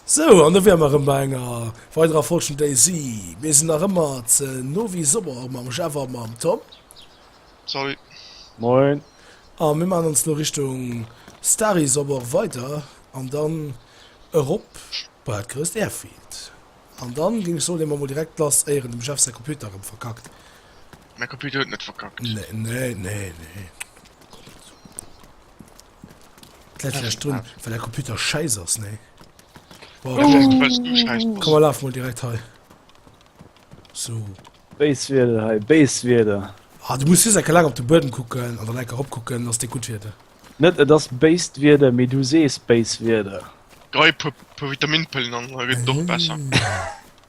Sou, an do wäre mer erëm bei enger weiderer Folg vum Daisy. Mir sinn nach ëmmer ze no wéi sober mam Jeff a mam Tom. Salut. Moin. A mir maachen ons elo Richtung Stary Sober weider an dann erop bei dat grousst Airfield. An dann géing ech soen, leeë mer emol direkt lass, éieren dem Jeff säi Computer erëm verkackt. Mäi Computer huet net verkackt. Nee, nee, nee, nee. Läit vläicht drun, well däi Computer schäiss ass, nee? Boah, komm, Vielleicht, weil's du scheiß komm, bist. laf mol direkt hei. So. Béis Wieder hei, béis Wieder. Ah, du muss just enke laang op de Buedem kucken an dann enke eropkucken, ass dee gutt Wieder. Net et ass béist Wieder, mee du sees béis Wieder. Dräi puer puer Vitaminpëllen an da gëtt et och besser.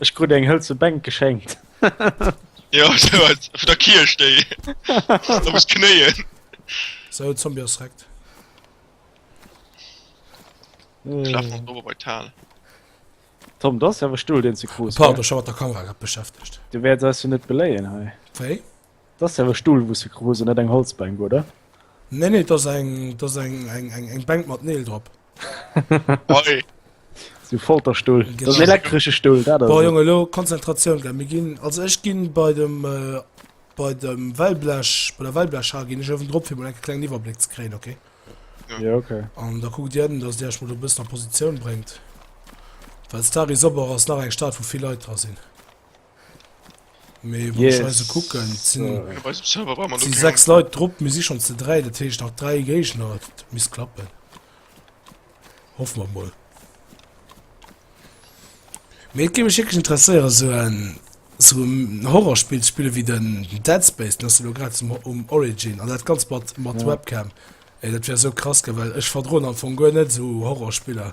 Ech krut eng hëlze Bänk geschenkt. Jo, vun der Kierch, déi do muss knéien. Sou, de Zombie ass rekt. Schlaf mol dower bei d'Hal. Tom, dat ass awer Stull, deen ze grouss war. Pardon, ech war mat der Kamera grad beschäftegt. Du wäerts eis jo net beléien hei. Wéi? Dass jo e Stull wous se kruse, net eng Holzbänk oder? Nee nee dass eng dass eng eng eng eng Bänk mat Neel drop. Hei. Sou Folterstull, dass en elektresche Stull dat ass. Bon Jongen elo Konzentratioun gell, mir ginn also ech ginn bei dem bei dem Wellblech bei der Wellblechhal ginn ech owendrop fir mol enke klengen Iwwerbléck ze kréien ok? Jo ok. An da kuckt dir ënnen dass dir iech mol do e bëssen a Positioun bréngt well d'Stad is op, och ass nach eng Stad wou vill Leit dra sinn. Mee wann ech eise kucken, et sinn Op eisem Server brauch mer et sinn lo sechs keng. Leit drop, mir si schonn ze dräi, dat heescht nach dräi Géigner, et misst klappen. Hoffe mer mol. Mee et géif mech wierklech interesséieren esou en esou en Horrorspill ze spillen wéi den Dead Space, den ass jo lo grad zum O um Origin an dat ganzt mat mat Ja. Webcam. Ey dat wär esou krass ginn, well ech verdroen am Fong guer net esou Horrorspiller.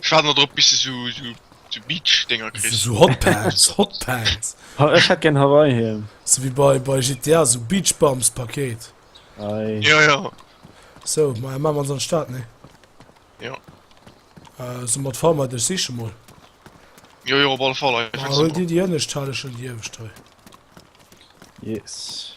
Ech waarden dodrop bis de sou sou sou Beach Dénger kriss. Sou Hot Pants, Hot Pants. Ha ech hätt gern Hawaii Hiem. Sou wéi bei bei GTA, sou Beach Bums Paket. Ei. Jo jo. So, ma maan mer ons an Stad nee? Jo. Euh so mat Farmite ech siche mol. Jo jo op alle Fall ech Ma huel dir déi ënnescht, hal ech schon déi iewescht hei. Yes.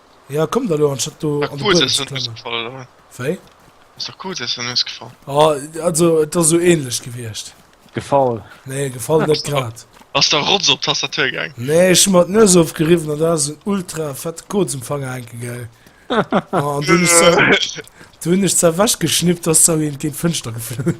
Ja, komm da lo, anstatt du an de Buedem ze klammen. Wéi? Ass der Kues essen ausgefall? Ah, also, et ass sou ähnlech gewiecht. Gefall? Nee, gefall net grad. Ass der Rotz op d'Tastatur gaang? Nee, ech hu mer d'Nues ofgeriwwen an do ass en ultra fette Koz um Fanger hänke gaang. An du hunn ech se, du hunn ech se ewechgeschnippt, ass se erwéint géint d'Fënschter geflunn.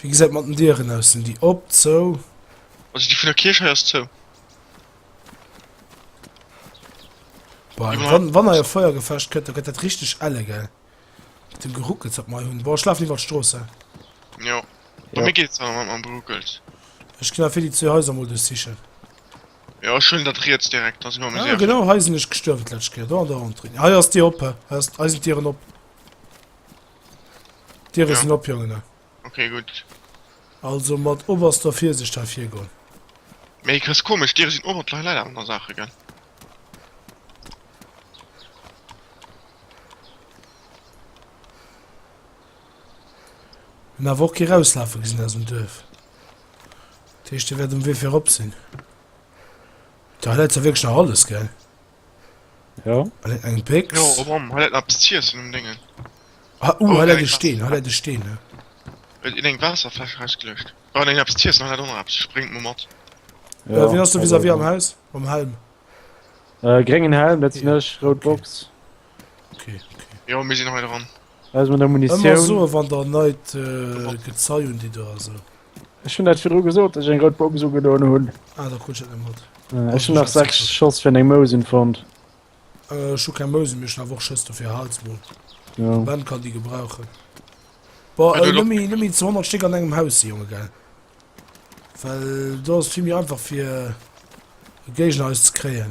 Wéi gesäit mat den Dieren aus? Sinn déi op, zou? Also déi vun der Kierch hei ass zou. Boah, wann, wann hei e Feuergefecht kënnt, da gëtt dat richteg elle, gell? Mit dem Geruckels, wat mer hei hunn. Boah, ech lafen iwwert d'Strooss, hä? Jo. Bei Ja. mir geet et awer mat mam Geruckels. Ech ginn awer fir déi zwee Haiser mol duerchsichen. Jo, ech hunn dat riets direkt, da si mer méi Ah, sécher. genau hei sinn ech gestuerwen d'lescht Kéier. Do an der Entrée. Hei ass d'Dier op, hä? Hei ass, hei sinn d'Dieren op. D'Diere ja. sinn op, Jongen. Okay, gutt. Also mat oberster Virsicht hei virgoen. Mee Chris, komesch, d'Diere sinn op, et läit awer no Saache, gell? Hunn awer och kee rauslafe gesinn aus dem Duerf. Dat heescht, déi wäert um Wee fir erop sinn. Da läit jo wierklech nach alles, gell? Jo. Eng, eng Pécks. Jo, oh Mann, hat dat nach bis z'iessen um Dingen. Ah, uh, oh, hat dat e Steen, hat dat e Steen, ne? Huet in eng Waasserfläsch rausgelöscht. Oh, eng etwas z'iessen, hat dat och nach etwas, ech bréngt mol mat. Ja, äh, wien ass do vis-à-vis am Haus? Mam Helm? Äh, gréngen Helm, dat sinn ech, rout Box. Okay, okay. Jo, mir sinn hei dran. Hei ass meng der Munitioun. Ëmmer soen, wann der neit Gezei un déi do ass. Ech hunn dat virdru gesot, datt ech eng rout Box ugedoen hunn. Ah, da krut ech dat net mat. Ech hunn nach 6 Schoss fir eng Mousen fonnt. Ech hu keng Mousen, mee ech hunn awer och Schëss, dofir hals mol. Jo. De Ben kann déi gebrauchen. Boah, elo nëmme, nëmme ze 100 Stéck an engem Haus si, Jonge, gell? Well do ass et vill méi einfach fir e Géigner eis ze kréien.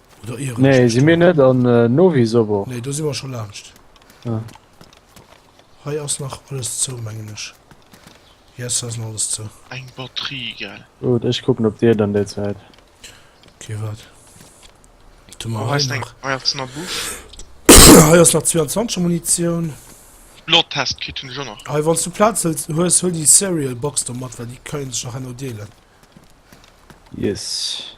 Oder Ehrenstedt. Nee, si mir net an äh, Novi Sobo? Nee, do si mer scho laanscht. Ah. Hei ass nach alles zou, mengen ech. Yes, hei ass nach alles zou. Eng Batterie, gell? Gut, ech kucken op dir dann déi Zäit. Okay, wat? Du mer hei nach. Hei ass nach Buff. hei ass nach 22 Munitioun. Bloodtest Kit hunn ech och nach. Hei wann du Platz hëlls hues, huel déi Cereal Box do mat, well déi kënnen sech nach herno deelen. Yes.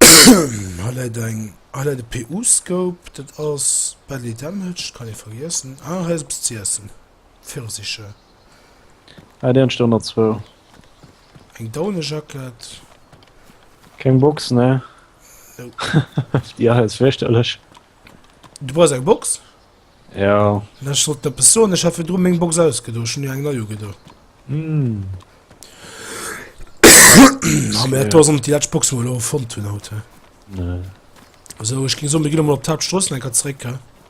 Hei läit eng, hei läit e PU-Scope, dat ass belly damaged, kann ee vergiessen. Ah, hei ass eppes z'iessen, Pfirsicher. Ah, déi han ech der nach zwou. Eng Daunejacket. Keng Box, ne? Nope. Déi ass virstellech. Du brauchs eng Box? Ja. Ech sollt eppes soen, ech hat virdru meng Box ausgedo, ech hunn jo eng nei ugedo. Mä et ass net déi lescht Box, déi mer elo fonnt hunn haut. Esou, ech géing soen, mir ginn emol op d'Haaptstrooss eng Kéier zréck.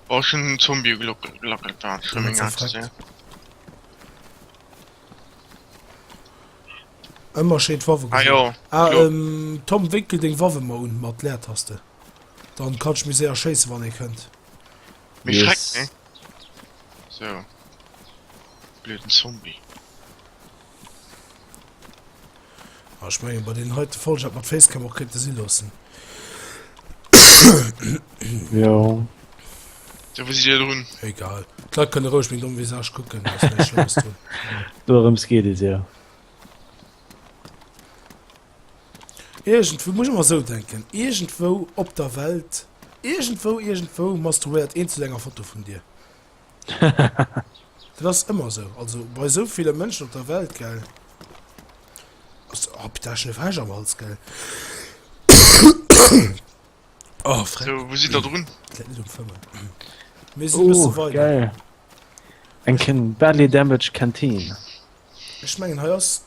Oh, ech hunn den Zombie ugelackelt, dat ass schlëmm, eng Aktie. Ëmmer schéi d'Waffe geholl. Ah jo. Tom, wénkel deng Waffe mol un mat Leertaste. Dann kann ech mir se erschéissen, wann ee kënnt. Méi Schreck, Yes. ne? So. Blöden Zombie. Ah, ech mengen, bei den heite Volljack mat Facecam och kéinte si loossen. Ja. Da wou si dir drun? Egal. D'Leit kënne roueg meng domm Visage kucken, da ass näischt Schlimmes drun. Dorëms geet et jo. Iergendwou, muss ech ëmmer esou denken, iergendwou op der Welt, iergendwou, iergendwou masturbéiert een zu enger Foto vun dir. Dat ass ëmmer esou, also bei esou ville Mënschen op der Welt, gell. Also, oh, putain, ech hunn e Fräsch am Hals, gell. Oh, Fräsch. So, wou sidd Der drun? Dat läit net um Fëmmen. Mir sinn e bësse weider. Geil. Eng Ken Badly Damaged Canteen. Ech mengen, hei ass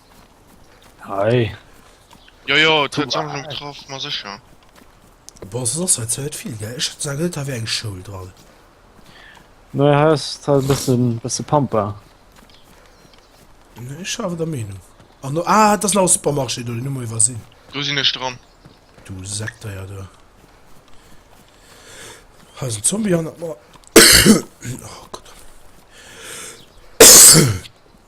Hei. Jojo, et huet Sammlung getraff, ma sécher. Bon, se ass halt zweit vill gell, ech hat sa gëtt awer eng Schoul dran. Nei Haus tal bëssen bësse Pampa. Nee, ech awer der Meenung. An no ah, dat ass nach e Supermarché do, den hu mer iwwersinn. Do sinn ech dran. Du Sekdeier du. Hei ass en Zombie hannert mer. Oh Gott.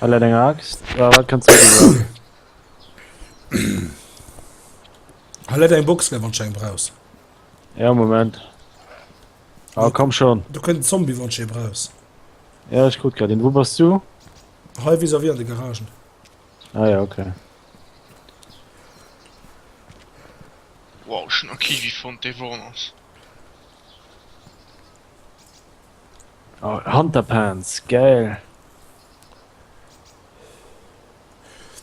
Hat dat eng Axt? Oder wat kann d'Zéi gebrauchen? Hat dat eng Box, wann d'Scheng brauchs? Ja, Moment. Ah, komm schon. Du könnt den Zombie wann sche braus. Ja, ich guck grad den. Wo bist du? Hei vis wie an de Garagen. Ah ja, okay. Wow, schon a Kiwi fand de Warners. Oh, Hunterpants, geil!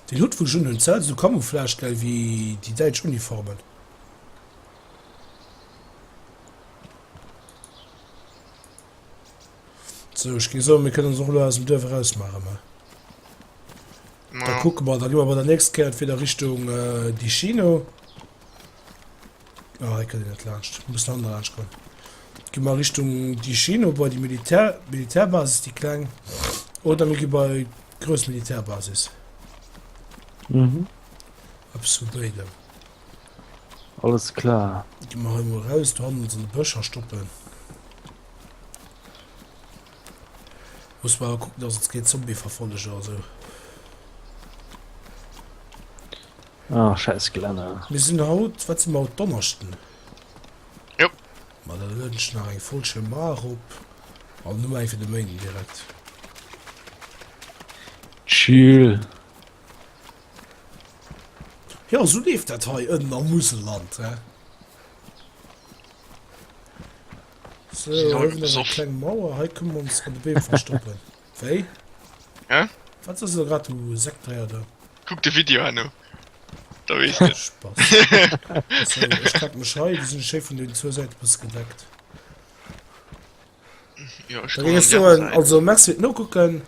Déi Luut vu Jun hunn Zell sou Camouflage geil wéi déi däitsch Uniformen. Sou ech géing soen mir kënnen se och elo aus dem Duerf eraus maachen mä da kucke mer, da gi mer bei der nächst Kéier entweder Richtung Dicino. Ah, hei kënnt een net laanscht. Muss nach ënnerlaanscht goen. Gi mer Richtung déi Chino bei déi Militär, Militärbasis, déi kleng. Oder mir gi bei grouss Militärbasis. Mhm. Eppes vu béidem. Alles klar. Gi mer hei mol raus, do hannen se de Bëscher stoppen. Muss mer awer kucken, dass et keen Zombie-Verfolleger oder sou. Ah, schäiss Glänner. Mir sinn haut, wat si mer haut, Donneschden? Jo. Ma da lueden ech nach eng Folg schéi mar erop an hu eng fir de Méinden direkt. Chill. Jo, esou leeft dat hei ënnen am Muselland, he? Sou, hei hu mer eng kleng Mauer, hei kënne mer ons ënner de Beem verstoppen. Wéi? Hä? Wat ass lo grad, du Sektdréier do? Kuck de Video herno, da weess de et. Spass. So, ech kack mech hei, do sinn ech schéi vun den zwou Säite bësse gedeckt. Jo, ech Da droen géing an ech déi aner soen, Säit. also merci fir d'Nokucken.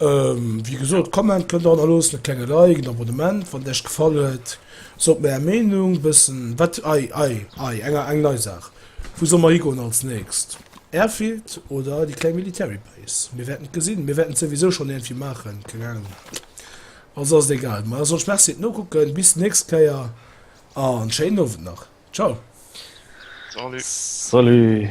Ähm, wéi gesot, Comment kënnt der hannerloossen, e klenge Like, en Abonnement, wann Iech gefall huet. Sot mir Är Meenung, bëssen, wat, ei, ei, ei, eng, eng nei Saach. Wou solle mer higoen als nächst? Airfield oder déi kleng Military Base? Mir wäerten et gesinn. Mir wäerten et souwisou schonn iergendwéi maachen, keng Anung wat. Also ass et egal. Mä soss Merci et Nokucken. Bis d'nächst Kéier an schéinen Owend nach. Ciao. Salut. Salut.